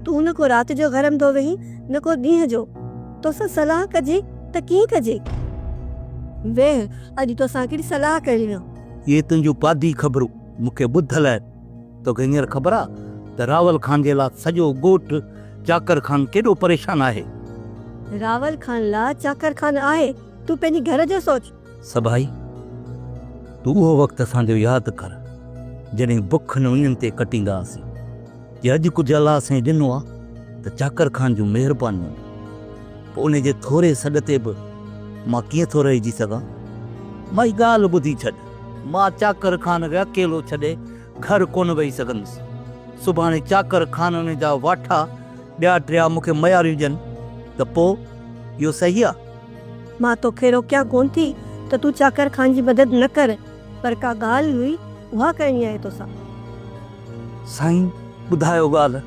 تون نه ڪو رات جو گهرندو ويهين نه ڪو ڏينهن جو. توسان صلاح ڪجي ته ڪيئن ڪجي؟ ويهه اڄ توسان هڪڙي صلاح ڪريان. اهي تنهنجون پادي خبرون مون کي ٻڌل آهن. توکي هينئر خبر آ ته راول خان جي لا سڄو ڳوٺ چاڪر خان ڪيڏو پريشان آهي. راول خان لا چاڪر خان آهي، تون پنهنجي گهر جو سوچ. سڀائي، تون اهو وقت اسان جو ياد ڪر، جڏهن بک ۽ اڃن تي ڪٽيندا هئاسين. جي اڄ ڪجهه الله سائين ڏنو آ ته چاڪر خان جون مهربانيون آهن. پوء انهي جي ٿوري سڏ تي به مان ڪيئن ٿو رهجي سگهان. مائي ڳالهه ٻڌي ڇڏ. مان چاڪر خانه کي اڪيلو ڇڏي گهر ڪونه ويهي سگهندس. سڀاڻي چاڪر خانه جا واٺا ٻيا ٽيا مون کي مياريون ڏين ته پوء اهو صحيح آ؟ مان توکي روڪيان ڪونه ٿي ته تون چاڪر خان جي مدد نه ڪر پر ڪا ڳالهه هئي اها ڪرڻي آهي توسان. سائين ٻڌايو ڳالهه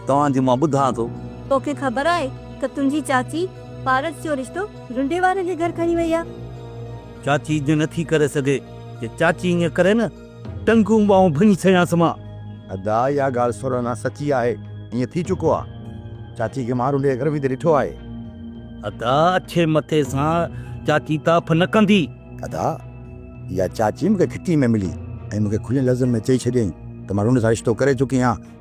توهان جي مان ٻڌان ٿو. توکي خبر آهي ته تنهنجي چاچي پارس جو رشتو رنڊي وارن جي گهر کڻي وئي آ. چاچي ايئن نه ٿي ڪري سگهي. جي چاچي ايئن ڪري نه ٽنگون ٻانهون ڀڃي ڇڏيانس مان. ادا اها ڳالهه سورهنا سچي آهي ايئن ٿي چڪو آ چاچي کي مارون ڏي گرمي تي ڏٺو آهي. ادا اڇي مٿي سان چاچي تاڦ نه ڪندي. ادا اها چاچي مون کي گهٽي ۾ ملي ۽ مون کي کلين لفظن ۾ چئي ڇڏيائين ته مان رونڊ سان رشتو ڪري چڪي آهيان.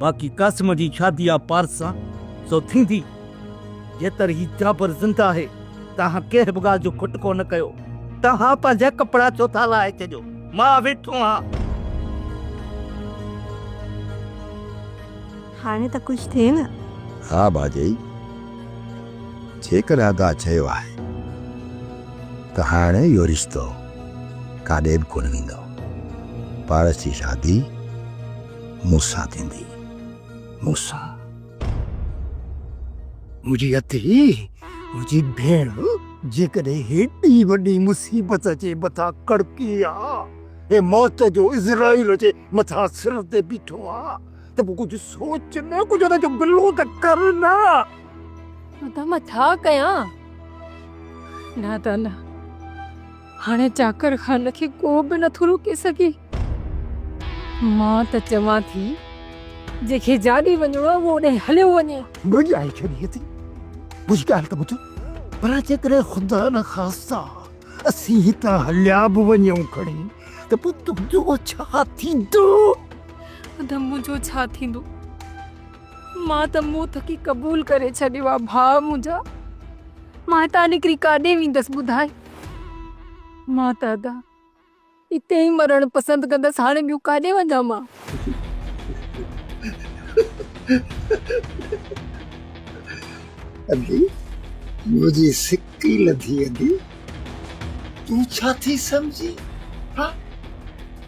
باقي قاسم جي شادي آ پارس سان سو ٿيندي. جيتر هي جابر زنده آهي توهان ڪنهن به ڳالهه جو کٽ ڪونه ڪيو. توهان پنهنجا ڪپڙا ڇو ٿا لاهي ڇڏيو؟ مان ويٺو آهان. هاڻي ته خوش ٿئي نه؟ ها ڀاڄائي، جيڪڏهن ادا چيو آهي ته هاڻي اهو رشتو ڪاڏي به ڪونه ويندو. پارس جي شادي. موسيٰ ٿيندي، موسيٰ. منهنجي اٿي، منهنجي ڀيڻ، جيڪڏهن هيڏي وڏي مصيبت جي مٿان ڪڙڪي آ ۽ موت جو عزرائيل جي مٿان سر تي بيٺو آ ته پوء ڪجهه سوچ نه، ڪجهه ان جو بلو ته ڪر نه. نه ته مان ڇا ڪيان؟ نه ته نه. هاڻي چاڪر خان کي ڪو به نٿو روڪي سگهي. مان ته چوان ٿي جنهن کي جاڏي وڃڻو آهي اهو اوڏانهن هليو وڃي. ڀڄائي ڇڏيئي ٿي. منهنجي ڳالهه ته ٻڌ. ڀلا جيڪڏهن خدا نه خاستا اسين هتان هليا به وڃون کڻي ته پوء تنهنجو ڇا ٿيندو؟ ادا منهنجو ڇا ٿيندو؟ مان ته منهن ٿڪي قبول ڪري ڇڏيو آهي ڀاء منهنجا. مان هتان نڪري ڪاڏي ويندس ٻڌاء؟ مان ته ادا اتي ئي مرڻ پسند ڪندس هاڻي ٻيو ڪاڏي وڃان مان. ادي منهنجي سڪ ئي لڌي ادي تون ڇا ٿي سمجهي ها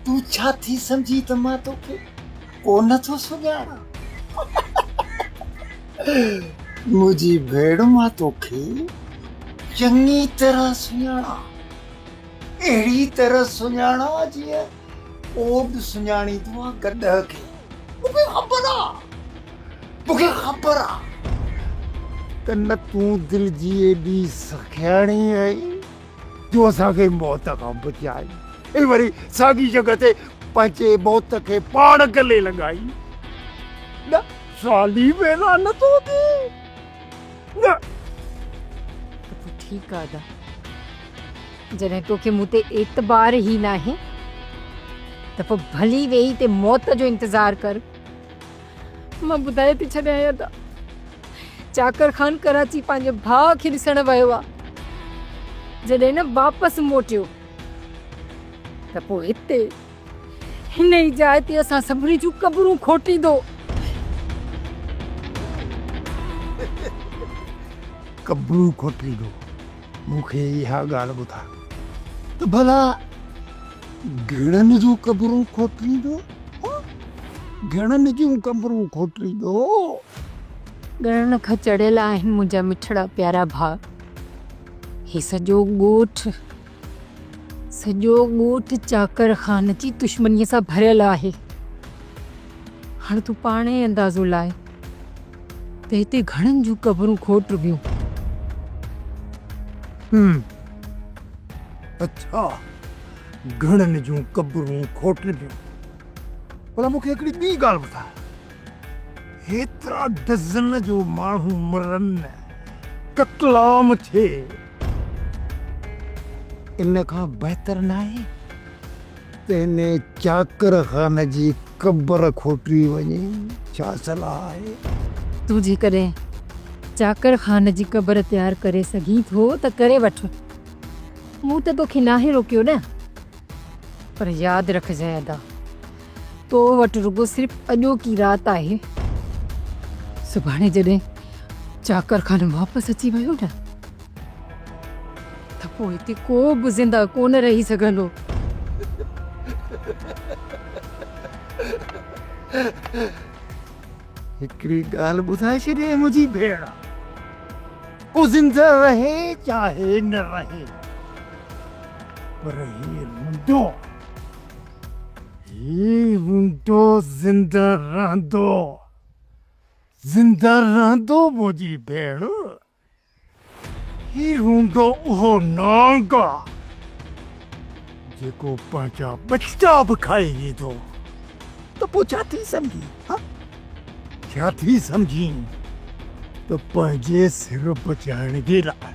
تون ڇا ٿي سمجهي ته مان توکي ڪونه ٿو سڃاڻان منهنجي ڀيڻ مان توکي چڱي طرح سڃاڻان اهڙي طرح سڃاڻان جيئن اوڏ سڃاڻيندو آهي گڏهه کي مونکي خبر آ مونکي خبر آ ته نه تون دل جي ايڏي سکياڻي آهي جو اسان کي موت کان بچائي ۽ وري ساڳي جڳهه تي پنهنجي موت کي پاڻ گلي لڳائي. نه سالي ويران نه ٿو ٿئي نه. ته پوء ٺيڪ آ ادا. جڏهن توکي مون تي اعتبار ئي ناهي ته پوء ڀلي ويهي تي موت جو انتظار ڪر. مان ٻڌائي ٿي ڇڏيان يادا چاڪر خان ڪراچي پنهنجي ڀاء کي ڏسڻ ويو آ جڏهن نه واپس موٽيو ته پوء هتي هن ئي جاء تي اسان سڀني جون قبرون کوٽيندو قبرون کوٽيندو مون کي اها ڳالهه ٻڌاء ته ڀلا گهڻن جون قبرون کوٽيندو؟ گهڻن جون قبرون کوٽيندو؟ ڳڻڻ کان چڙهيل آهن منهنجا مٺڙا پيارا ڀاء. هي سڄو ڳوٺ، سڄو ڳوٺ چاڪر خان جي دشمنيء سان ڀريل آهي. هاڻ تون پاڻ ئي اندازو لاء. ته هتي گهڻن جون قبرون کوٽ رڳيون. هم. اڇا. گهڻن جون قبرون کوٽ رڳيون. ڀلا مون کي هڪڙي ٻي ڳالهه ٻڌاء. هيترا ڊزن جو ماڻهو مرن، قتل عام ٿئي. ان کان بهتر ناهي تنهني چاڪر خان جي قبر کوٽي وڃي ڇا صلاح آهي؟ تون جيڪڏهن چاڪر خان جي قبر تيار ڪري سگهين ٿو ته ڪري وٺ. مون ته توکي ناهي روڪيو نه. پر ياد رکجانء ادا، تو وٽ رڳو صرف اڄوڪي رات آهي. سڀاڻي جڏهن چاڪر خان واپس اچي ويو نه. ته پوء هتي ڪو به زندهه ڪونه رهي سگهندو. هڪڙي ڳالهه ٻڌائي ڇڏ اي منهنجي ڀيڻ، ڪو زندهه رهي چاهي نه رهي، پر هي هوندو، هي هوندو زندهه رهندو، زندهه رهندو منهنجي ڀيڻ. هي هوندو اهو نانگا جيڪو پنهنجا ٻچا به کائي ويندو ته پوء ڇا ٿي سمجهين ها ڇا ٿي سمجهين ته پنهنجي سر بچائڻ جي لاء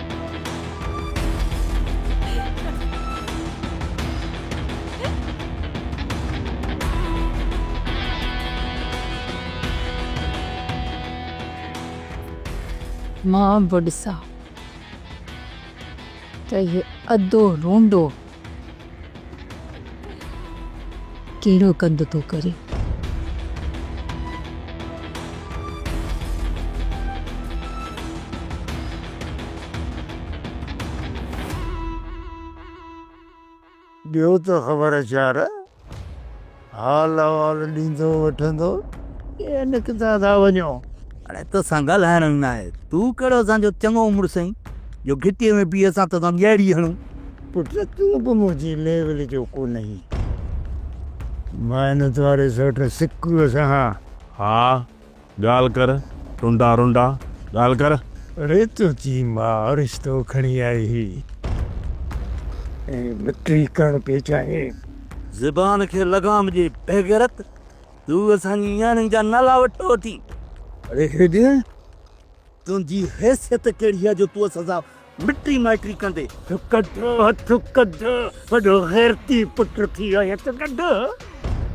مان به ڏسان ته هي اڌو رونڊو ڪهڙو ڪنڌ ٿو ڪري. ڏيو ته خبر چار. حال احوال ڏيندو وٺندو ڪي نڪتا ٿا وڃو. اڙي توسان ڳالهائڻ ئي ناهي. تون ڪهڙو اسان جو چڱو مڙس آهين جو گهٽيء ۾ بيهي اسان توسان ڳهڙي هڻون. پٽ تون به منهنجي ليول جو ڪونهين. محنت واري سوٽ سڪوء سان ها. ڳالهه ڪر ٽنڊا رنڊا ڳالهه ڪر. ريتو چي ماء رشتو کڻي آئي هي. ۽ مٽي ڪڻ پئي چاهين. زبان کي لغام ڏي بيغيرت. تون اسان جي نياڻين جا نالا وٺو ٿي. اڙي هيڏين تنهنجي حيثيت ڪهڙي آهي جو تون اسان سان. مٽي مائٽي ڪندي. ڪڍ هٿ ڪڍ وڏو غيرتي پٽ ٿي آهي هٿ ڪڍ.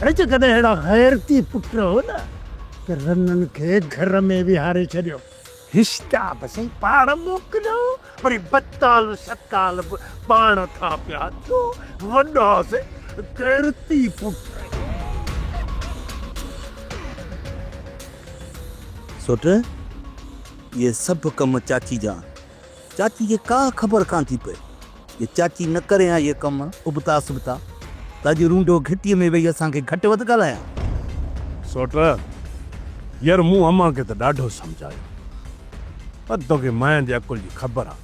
اڙي جيڪڏهن اهڙا غيرتي پٽ هئن ته رنن کي گهر ۾ ويهاري ڇڏيو. هشتا به سائين پاڻ موڪليو وري بتال شتال به پاڻ کان پيا اچو وڏا سائين غيرتي پٽ. سوٽ اهي سڀ ڪم چاچي جا. چاچي کي ڪا خبر ڪانه ٿي پئي جو چاچي نه ڪري ها اهي ڪم ابتا سبتا ته اڄ رونڊو گهٽيء ۾ ويهي اسان کي گهٽ وڌ ڳالهايا ها. سوٽ، يار مون امان کي ته ڏاڍو سمجهايو پر توکي ماين جي عقل جي خبر آ،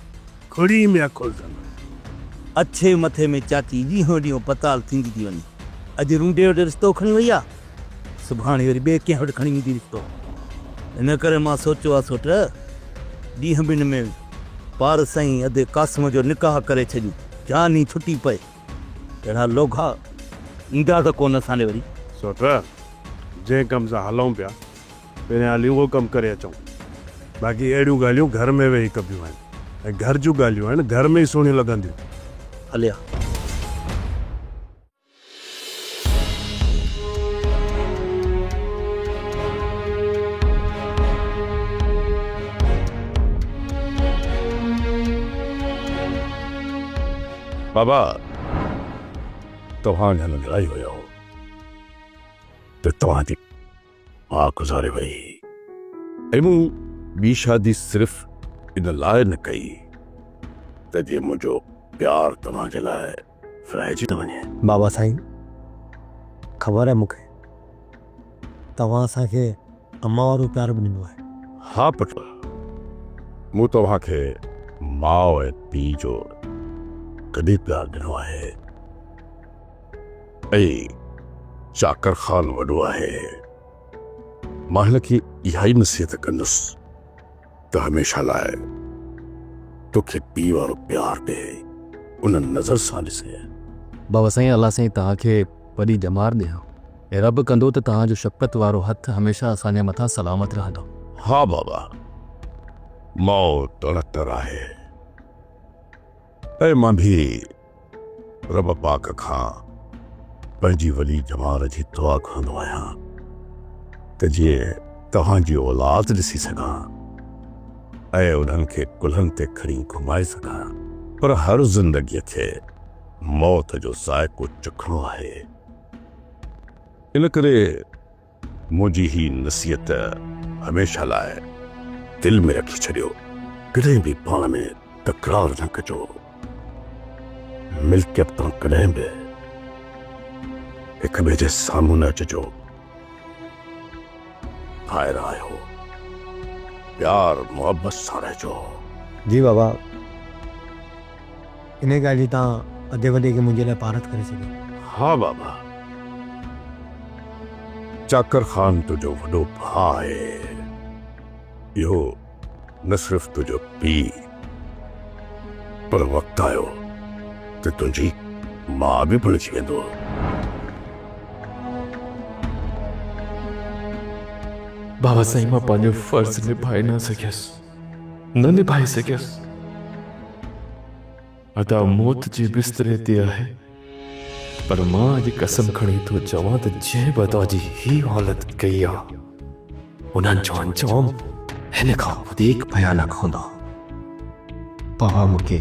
کڙي ۾ عقل ته نه. اڇي مٿي ۾ چاچي ڏينهون ڏينهون بتال ٿيندي ٿي وڃي. اڄ رونڊي وٽ رشتو کڻي وئي آ سڀاڻي وري ٻئي ڪنهن وٽ کڻي ويندي رشتو. ان ڪري مان سوچيو آ سو ٽه ڏينهن ٻن ۾ پارس ۽ ادي قاسم جو نڪاح ڪري ڇڏيون، جان ئي ڇٽي پئي. اهڙا لوگها ايندا ته ڪونه اسان ڏي وري. سو ٽه جنهن ڪم سان هلئون پيا، پهريان هلي اهو ڪم ڪري اچئون. باقي اهڙيون ڳالهيون گهر ۾ ويهي ڪبيون آهن ۽ گهر جون ڳالهيون آهن، گهر ۾ ئي سهڻيون لڳنديون. هليا. بابا توهان جا ننڍڙا ئي هيا ته توهان جي ماء گذاري وئي ۽ مون ٻي شادي صرف ان لاء نه ڪئي ته جيئن منهنجو پيار توهان جي لاء ورهائجي نه وڃي. بابا سائين خبر آهي مون کي توهان اسان کي امان وارو پيار به ڏنو آهي. ها پٽ مون توهان کي ماء ۽ پيء جو ڪڏهن پيار ڏنو آهي. اي چاڪر خان وڏو آهي، مان هن کي اهائي نصيحت ڪندس ته هميشه لاء توکي پيء وارو پيار ڏي، ان نظر سان ڏسي. بابا سائين الله سائين توهان کي وڏي ڄمار ڏيان ۽ رب ڪندو ته توهان جو شفقت وارو هٿ هميشه اسان جي مٿان سلامت رهندو. ها بابا، ماء تڻ تر آهي ۽ مان به. رب پاڪ کان پنهنجي ولي ڄمار جي دعا گهرندو آهيان ته جيئن توهان جي اولاد ڏسي سگهان ۽ انهن کي ڪلهن تي کڻي گهمائي سگهان. پر هر زندگيء کي موت جو ذائقو چکڻو آهي، ان ڪري منهنجي هي نصيحت هميشه لاء دل ۾ رکي ڇڏيو، ڪڏهن به پاڻ ۾ تڪرار نه ڪجو، ملڪيت تان ڪڏهن به هڪ ٻئي جي سامهون نه اچجو، ڀائر آهيو، پيار محبت سان رهجو. جي بابا. انهيء ڳالهه جي تان ادي وڏي کي منهنجي لاء پارت ڪري ڇڏيو. ها بابا! چاڪر خان تنهنجو وڏو ڀاء آهي. اهو نه صرف تنهنجو پيء، پر وقت آيو ته تنهنجي ماء به بڻجي ويندو. بابا سائين مان پنهنجو فرض نڀائي نه سگهيس. نه نڀائي سگهيس. ادا موت جي بستري تي آهي، پر مان اڄ قسم کڻي ٿو چوان ته جنهن به ادا جي هي حالت ڪئي آ، انهن جو انجام هن کان وڌيڪ ڀيانڪ هوندا. پاڻ مون کي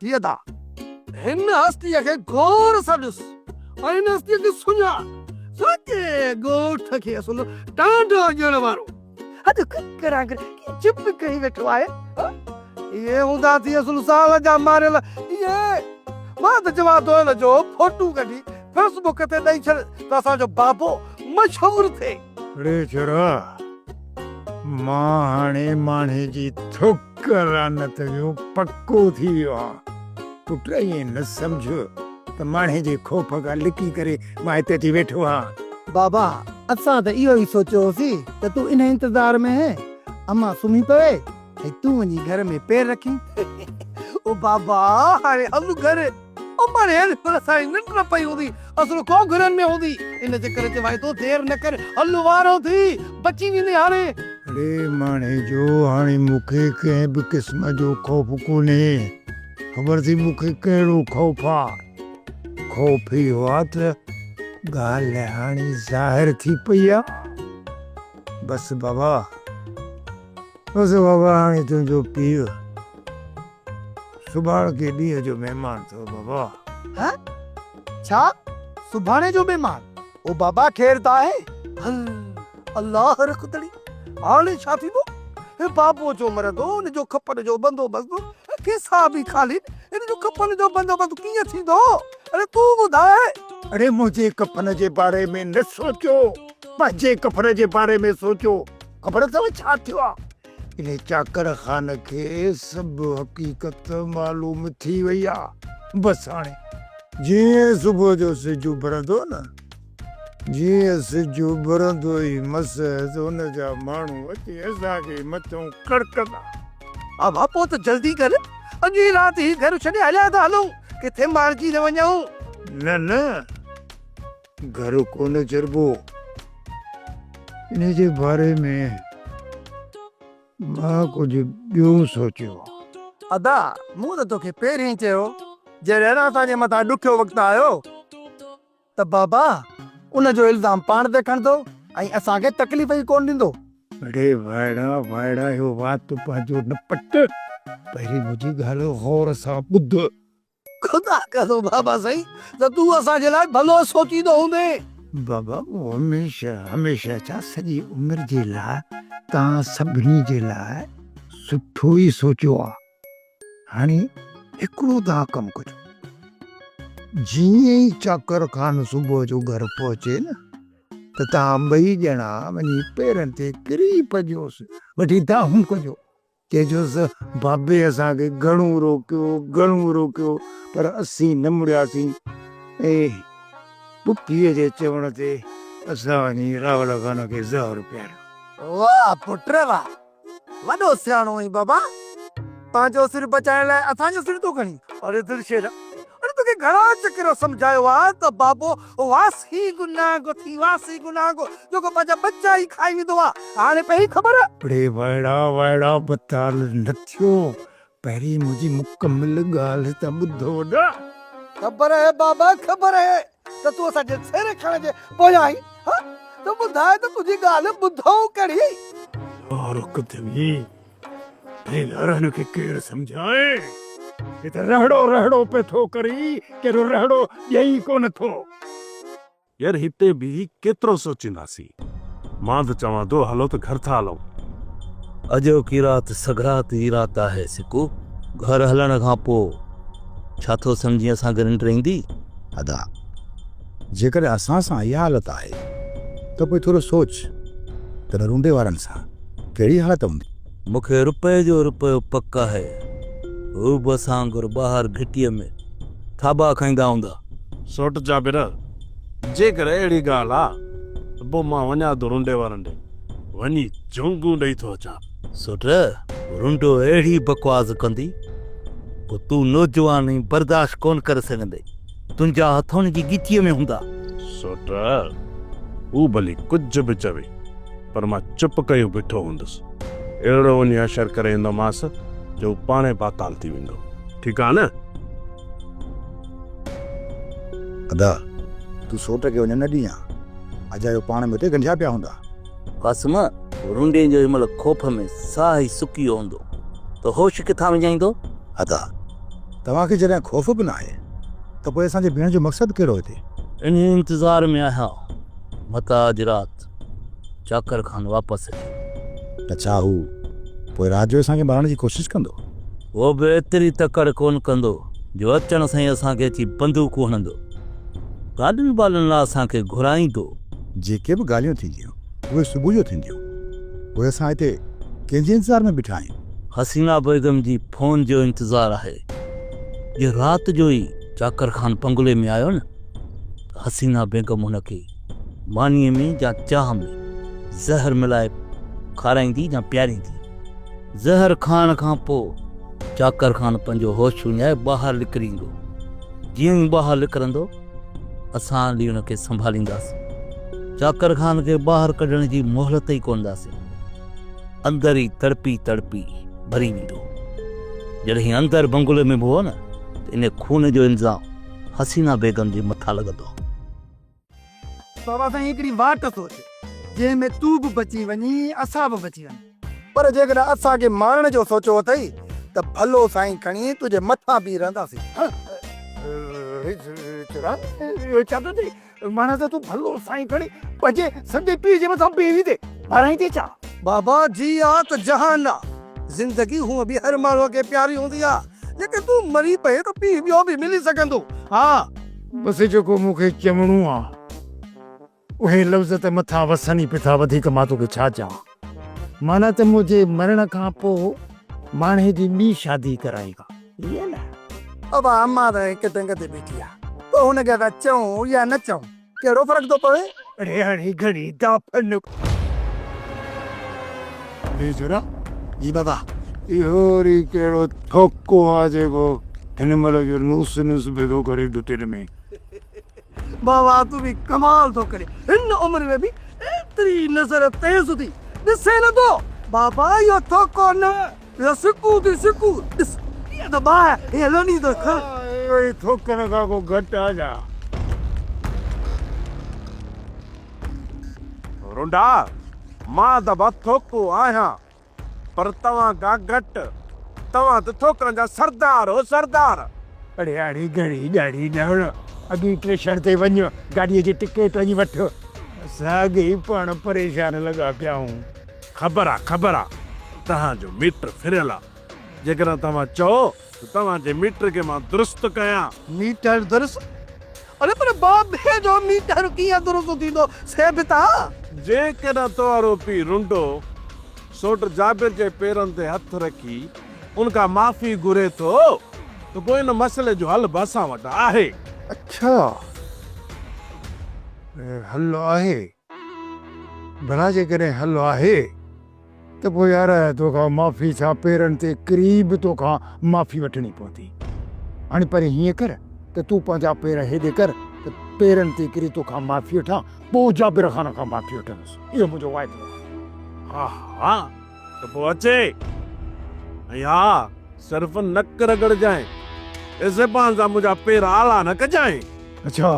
ٿئي ٿا. هن هستيء کي غور سان ڏس ۽ هن هستيء کي سڃاڻ. ساڳئي ڳوٺ کي اصل ٽانڊو ڏيڻ وارو اڄ ڪڪر آنگر ڪيئن چپ ڪري ويٺو آهي؟ اهي هوندا ٿي اصل سال جا ماريل اهي. مان ته چوان ٿو هن جو ڦوٽو ڪڍي فيس بڪ تي ڏئي ڇڏ ته اسان جو بابو مشهور ٿئي. ڙيچرا، مان هاڻي ماڻهي جي ٿڪ لعنت جو پڪو ٿي ويو آهيان. پٽ ائين نه سمجهه ته ماڻهي جي خوف کان لڪي ڪري مان هتي اچي ويٺو آهيان. بابا، اسان ته اهو ئي سوچيو هوسين ته تون انهي انتظار ۾ هين امان سمهي پوي ۽ تون وڃي گهر ۾ پير رکين. او بابا، هاڻي هل گهر. او پاڻ هير پر اسانجي ننڊ نه پئي هوندي، اسرو ڪو گهرن ۾ هوندي، ان جي ڪري چواين ٿو دير نه ڪر، هل وارو ٿي، بچي ويندين هاڻي. اڙي ماڻهي جو، هاڻي مون کي ڪنهن به قسم جو خوف ڪونهي، خبر اٿئي مون کي ڪهڙو خوف آ، خوف اهو آ ته ڳالهه هاڻي ظاهر ٿي پئي آ، بس بابا، بس بابا هاڻي تنهنجو پيء سڀاڻ ڪي ڏينهن جو مهمان ٿو بابا. هه ڇا سڀاڻي جو مهمان. او بابا خير ته آهي. هل الله رکندڙي هاڻي ڇا ٿيندو. هي بابو جو مرندو هن جو ڪفن جو بندوبست هي کيسا به خالين هن جو ڪفن جو بندوبست ڪيئن ٿيندو اڙي تون ٻڌاء. اڙي منهنجي ڪفن جي باري ۾ نه سوچو پنهنجي ڪفن جي باري ۾ سوچو خبر اٿو ڇا ٿيو آ. انهي چاڪر خان کي سڀ حقيقت معلوم ٿي وئي آ. بس هاڻي جيئن صبح جو سج اڀرندو نه، جيئن سج اڀرندو ئي مس ته ان جا ماڻهو اچي اسان کي مٿئون ڪڙڪندا. ها ها پوء ته جلدي ڪر، اڄ ئي رات هي گهر ڇڏي هليا ٿا هلون، ڪٿي مارجي نه وڃون. نه نه. گهر ڪونه چربو. انهيء جي باري ۾ مان ڪجهه ٻيو سوچيو. ادا! مون ته توکي پهرين ئي چيو جڏهن اسان جي مٿان ڏکيو وقت آيو ته بابا ان جو الزام پاڻ تي کڻندو ۽ اسان کي تڪليف ئي ڪونه ڏيندو. اڙي وائڙا وائڙا اهو وات پنهنجو نه پٽ، پهرين منهنجي ڳالهه غور سان ٻڌ. خدا ڪرو بابا سائين ته تون اسان جي لاء ڀلو سوچيندو هوندين. بابا مون هميشه هميشه ڇا سڄي عمر جي لاء توهان سڀني جي لاء سٺو ئي سوچيو آ هاڻي هڪڙو توهان ڪم ڪجو جيئن ئي چاڪر خان صبح جو گهر پهچي نه ته توهان ٻئي ڄڻا وڃي پيرن تي ڪري پجوس وٺي دانهون ڪجو. چيجوس، بابي اسان کي گهڻو روڪيو، گهڻو روڪيو، پر اسين نه مڙياسين ۽ پڦيء جي چوڻ تي اسان وڃي راولا خان کي زهر پياريو. واهه پٽ ري واهه، وڏو سياڻو آهين بابا، پنهنجو سر بچائڻ لاء اسان جو سر ٿو کڻين. اڙي دلشيرا، اڙي توکي گهڻا چڪر سمجهايو آهي ته بابو او واس هي گناهه گو ٿي واس هي گناهه گو جيڪو پنهنجا ٻچا ئي کائي ويندو آ هاڻي پئي خبر. ڙي وائڙا وائڙا بتال نه ٿيو پهرين منهنجي مڪمل ڳالهه ته ٻڌو نه. خبر اهي بابا خبر اهي ته تون اسان جي سر کڻڻ جي پويان آهين ها ته ٻڌاء ته تنهنجي ڳالهه ٻڌئون ڪهڙي. يار ڪٿي ويئي هن رهن کي ڪير سمجهائي؟ هي ته رهڙو رهڙو پئي ٿو ڪري، ڪهڙو رهڙو ڏئي ئي ڪونه ٿو. يار هتي بيهي ڪيترو سوچينداسين. مان ته چوان ٿو هلو ته گهر ٿا هلون. اڄوڪي رات سگهڙات جي رات آهي سڪو. گهر هلڻ کان پوء ڇا ٿو سمجهين اسان گهر انٽر ايندي؟ ادا. جيڪڏهن اسان سان اها حالت آهي ته پوء ٿورو سوچ ته نرونڊي وارن سان ڪهڙي حالت هوندي. مون کي رپئي جو رپيو پڪ آهي، هو به اسان وانگر ٻاهر گهٽيء ۾ ٿاٻا کائيندا هوندا. سوٽ جابر، جيڪر اهڙي ڳالهه آ ته پوء مان وڃان ٿو رونڊي وارن ڏي وڃي جهونگون ڏئي ٿو اچان. سوٽ، رونڊو اهڙي بڪواس ڪندي، پوء تون نوجوان آهين، برداشت ڪونه ڪري سگهندين. تنهنجا هٿ هن جي ڳچيء ۾ هوندا. سوٽ، هو ڀلي ڪجهه به چوي، پر مان چپ ڪيو بيٺو هوندس. اهڙو وڃي حشر ڪري ايندومانس جو هو پاڻهي پاتال ٿي ويندو. ٺيڪ آهي نه؟ ادا، تون سوٽ کي وڃڻ نه ڏينء ها. اجايو پاڻ ۾ اتي ڳنڍيا پيا هوندا. قاسم! رنڊين جو هن مهل خوف ۾ ساهه ئي سڪي ويو هوندو ته هوش ڪٿان وڃائيندو؟ ادا! توهان کي جڏهن خوف به ناهي ته پوء اسان جي بيهڻ جو مقصد ڪهڙو هتي؟ انهيء انتظار ۾ آهيان، متان اڄ رات چاڪر خان واپس اچي. ته ڇا هو پوء رات جو اسان کي مارڻ جي ڪوشش ڪندو؟ هو به ايتري تڪڙ ڪونه ڪندو جو اچڻ سان ئي اسان کي اچي بندوقون هڻندو. گاڏن ٻالن لاء اسان کي گهرائيندو. جيڪي به ڳالهيون ٿينديون اهي صبح جو ٿينديون. پوء اسان هتي ڪنهن جي انتظار ۾ بيٺا آهيون؟ حسينا بيگم جي فون جو انتظار آهي. جي رات جو ئي چاڪر خان بنگلي ۾ آيو نه ته حسينا بيگم هن کي مانيء ۾ يا چاهه ۾ زهر ملائي کارائيندي يا پياريندي. زهر کائڻ کان پوء چاڪر خان پنهنجو هوش وڃائي ٻاهر نڪري ايندو. جيئن ئي ٻاهر نڪرندو، اسان علي ان کي سنڀالينداسين. چاڪر خان کي ٻاهر ڪڍڻ جي مهلت ئي ڪونه ڏاسين. اندر ئي تڙپي تڙپي مري ويندو. جڏهن اندر بنگلي ۾ به هو نه ته ان خون جو الزام حسينه بيگم جي مٿان لڳندو. بابا سائين هڪڙي واٽ سوچ، جنهن ۾ تون به بچي وڃين اسان به بچي وڃون. پر جيڪڏهن اسان کي مارڻ جو سوچيو اٿئي ته ڀلو سائين کڻي تنهنجي مٿان بيهي رهنداسين. رچران اهو ڇا ٿو چئين؟ معنيٰ ته تون ڀلو سائين کڻي پنهنجي سندي پيء جي مٿان بيهي تي مارائين ٿي ڇا؟ بابا جي آ ته جهان آ. زندگي هونء به هر ماڻهوء کي پياري هوندي آ. جيڪڏهن تون مري پئين ته پيء ٻيو به ملي سگهندو. ها! بس جيڪو مون کي چوڻو آ اهي لفظ ته مٿان وسن ئي پيا وڌيڪ مان توکي ڇا چوان معنيٰ ته منهنجي مرڻ کان پوء ماڻهي جي ٻي شادي ڪرائيندا ائين نه. ابا امان ته هڪ ٽنگ تي بيٺي آ پوء هن کي اسان چئون يا نه چئون ڪهڙو فرق ٿو پوي. اڙي هڻي گهڻي دا ڦن. اڙي جولا جي بابا. اهو وري ڪهڙو ٿوڪو آ جيڪو هن مهل جو نوس نوس ڀيڳو ڪري ڏٽن ۾. بابا تون به ڪمال ٿو ڪرين هن عمر ۾ به ايتري نظر تيز ٿي ڏسين نه ٿو بابا اهو ٿوڪو نه يا سڪون تي سڪون ڏس ڪيئن ته باهه هيئن لني ته کڻ. اهو ئي ٿوڪن کان ڪو گهٽ آ ڇا؟ رونڊا، مان ته بس ٿوڪو آهيان، پر توهان ڪا گهٽ، توهان ته ٿوڪن جا سردار هو سردار. پڙهياڙي گهڻي ڏاڙهي نه هڻ، اڳي اسٽيشن تي وڃ گاڏيء جي ٽڪيٽ هنئي وٺ. اسان اڳي ئي پاڻ پريشان لڳا پيا آهيون. خبر آ خبر آ توهان جو ميٽر ڦريل آ جيڪڏهن توهان چئو ته توهان جي ميٽر کي مان درست ڪيان. ميٽر درست؟ اڙي پر بابي جو ميٽر ڪيئن درست ٿيندو سي به تان. جيڪڏهن تنهارو پيء رنڊو سوٽ جابر جي پيرن تي هٿ رکي ان کان معافي گهري ٿو ته پوء ان مسئلي جو حل به اسان وٽ آهي. اڇا حل آهي. ڀلا جيڪڏهن حل آهي ته پوء يار تو کان معافي ڇا پيرن تي ڪري به تو کان معافي وٺڻي پوندي. هاڻي پهرين هيئن ڪر ته تون پنهنجا پير هيڏي ڪر ته پيرن تي ڪري تو کان معافي وٺان پوء جابر خان کان معافي وٺندس اهو منهنجو واعدو آهي. ها ها. ته پوء اچي ۽ ها صرف نڪ رڳڙجانء، اي زبان سان منهنجا پير آلا نه ڪجانء. اڇا،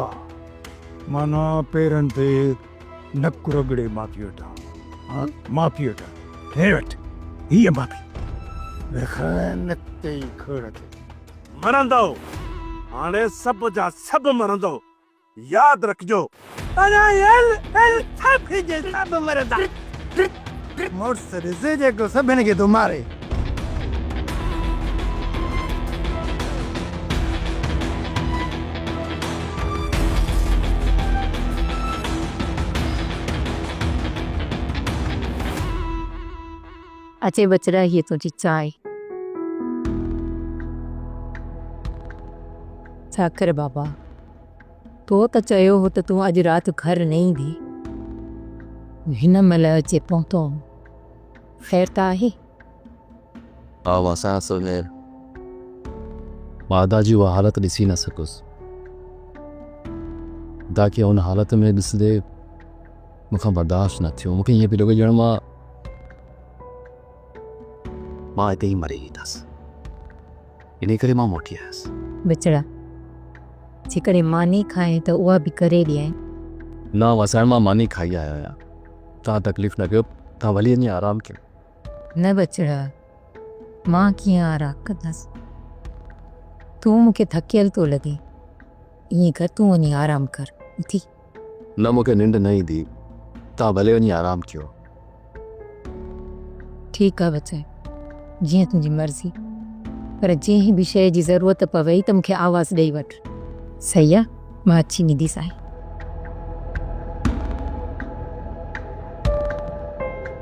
معنيٰ پيرن تي نڪ رڳڙي معافي وٺان، ها معافي وٺان، هي وٺ هيء معافي، رک نڪ تي کڙ تي. مرندؤ، هاڻي سڀ جا سڀ مرندؤ. ياد رکجو. پرايل ڪل سڀ جي سڀ مرندا. مڙس رضي جيڪو سڀن کي ٿو ماري. اچي ٻچڙا هيء تنهنجي چانهه. ساکر بابا. تو ته چيو هو ته تون اڄ رات گهر نه ايندي. تون هن مهل اچي پهتو آهين. خير ته آهي؟ ها مان سان سڀ خير. مان ادا جي اها حالت ڏسي نه سگهيس. ادا کي ان حالت ۾ ڏسندي مون کان برداشت نه ٿيو. مون کي ائين پيو لڳي ڄڻ مان. مان اتي ئي مري ويندس. انهيء ڪري مان موٽي آيس. بچڙا! جيڪڏهن ماني کائين ته اها به ڪري ڏيانء. نه وسائڻ مان ماني کائي آيو آهيان. توهان تڪليف نه ڪيو، توهان ڀلي وڃي آرام ڪيو. نه بچڙا! مان ڪيئن آرام ڪندس. تون مون کي ٿڪيل ٿو لڳين. ائين ڪر تون وڃي آرام ڪر اٿي. نه مون کي ننڊ نه ايندي توهان ڀلي وڃي آرام ڪيو. ٺيڪ آ بچائي جيئن تنهنجي مرضي پر جنهن به شيء جي ضرورت پوي ته مون کي آواز ڏئي وٺ صحيح آ مان اچي ويندي سائين.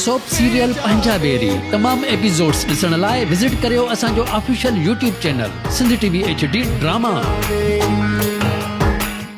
سوپ سيريل پنجابيري تمام ايپيسوڊز ڏسڻ لاء وزٽ ڪريو اسان جو official YouTube channel Sindh T V H D drama